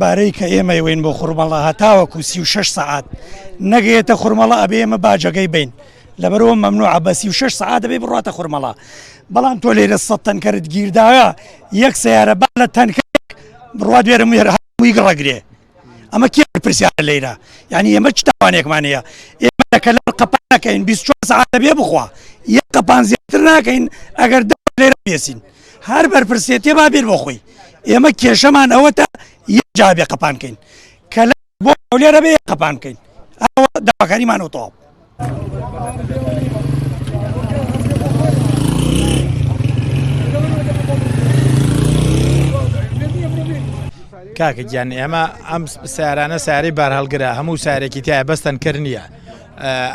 بارەی کە ئێمە وین بۆ خورمەڵە هەتاوەکو سی و شش سەعات نەگەێتە خورمەڵە ئەبێ ئمە باجەکەی بین لەبەرەوە مەمنوعە بە سی و شەش سەعات دەبێ بڕاتە خورمەڵا بەڵام تۆ لێرە سە تەنکەرت گیرداە یەک سیارە با لە تەنکە بڕوا دوێرە مێر هەمووی گڕەگرێ ئەمە کێ پرسیارە لێرە یعنی ئێمە چ تاوانێکمان هەیە ئێمە لە کەلار قەپان نەکەین 24 ساعت دەبێ بخوا یەک قەپان زیاتر ناکەین ئەگەر دە لێرە بێسین هەر بەرپرسێتێ با بێت بۆ خۆی ئێمە کێشەمان ئەوە تا یەک جابێ قەپانکەین کەلار بۆ هەولێرە بێ قەپان بکەین داواکاریمان و تەواو کاکە گیان ئێمە ئەم سارانە سارەی بارهڵگرە هەموو سارێکی تایە بەستن کرد نییە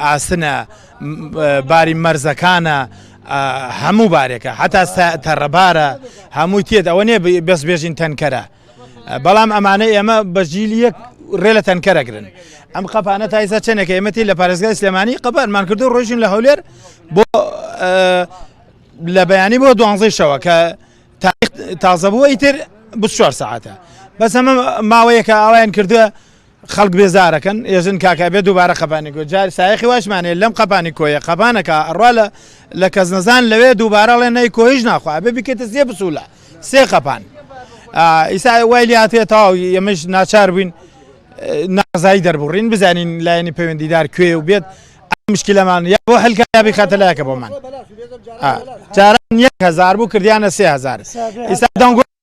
ئاسنە باری مەرزەکانە هەموو بارێکە حتا تەڕەبارە هەمووی تێت ئەوە نێ بەس بێژین تەنکەرە بەڵام ئەمانە ئێمە بە جیل یەک ڕێ لە تەنکەر ئەگرن ئەم قەپانە تایسا چەندێکە ئێمەتی لە پارێزگای سلێمانی قەپانمان کردو ڕۆژین لە هەولێر بۆ لە بەیانی بۆ دوانزەی شەوە کە تازەبووەی تر بچوار ساعتە بەس ئەمە ماوەیەکە ئاوایان کردووە خەڵک بێزارەکەن ئێژن کاکە ئەبێ دووبارە قەپانی کۆیە جار سایەخی واشمان هەیە لەم قەپانی کۆیە قەپانەکە ئەڕوا لە لە کەزنەزان لەوێ دووبارە ئەڵێن نەی کۆیش ناخوا ئەبێ بیکەیتە سێ بچوولە سێ قەپان ئیسا وای لێ هاتێ تەواو ئێمەش ناچار بووین نازایی دەربڕین بزانین لایەنی پەیوەندیدار کوێ و بێت مشکلەمان یا بۆ هەلکە یا بخاتە لایەکە بۆمان جاران یەک هەزار بوو کردیانە سێ هەزار ئیسا دەنگۆ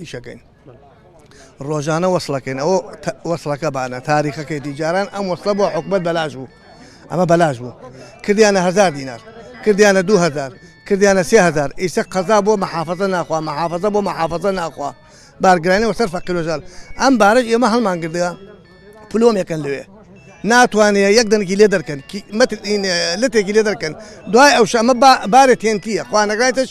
ئیشەکەین ڕۆژانە وەصلەکەین ئەو وەصلەکە بانە تاریخەکەی دیجاران ئەم وەصلە بۆ حکومت بەلاش بوو ئەمە بەلاش بوو کردیانە هزار دینار کردیانە دوهزار کردیانە سهزار ئیسە قەزا بۆ محافظە ناخوا محافظە بۆ محافظە ناخوا بارگرانی وەسەر فەقیرۆژار ئەم بارەش ئێمە هەڵمان گردە پلۆمێکن لەوێ ناتوانێت یەک دەنگی لێ دەرکەن لەتێکی لێ دەرکەن دوای ئەو شەمە بارێت تێنتیە خوانەگایتش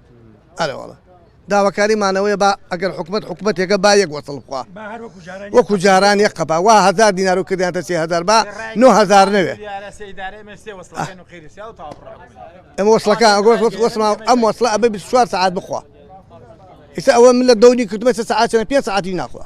داواکاری مانەوەیە با ئەگەر حکومەت حکومەتێکە با یەک وەسڵ بخوا وەکو جاران یەک قەپا وا هزار دینار و کردیانتە سێ هزار با نۆ هزار نەوێ ئەم وەسڵەکە ئەگۆش وەس وەسما ئەم وەسڵە ئەبێ 24 سعات بخوا ئیستا ئەوە من لە دەونی کردمە سە سعاتەوە پێ سعاتی ناخوا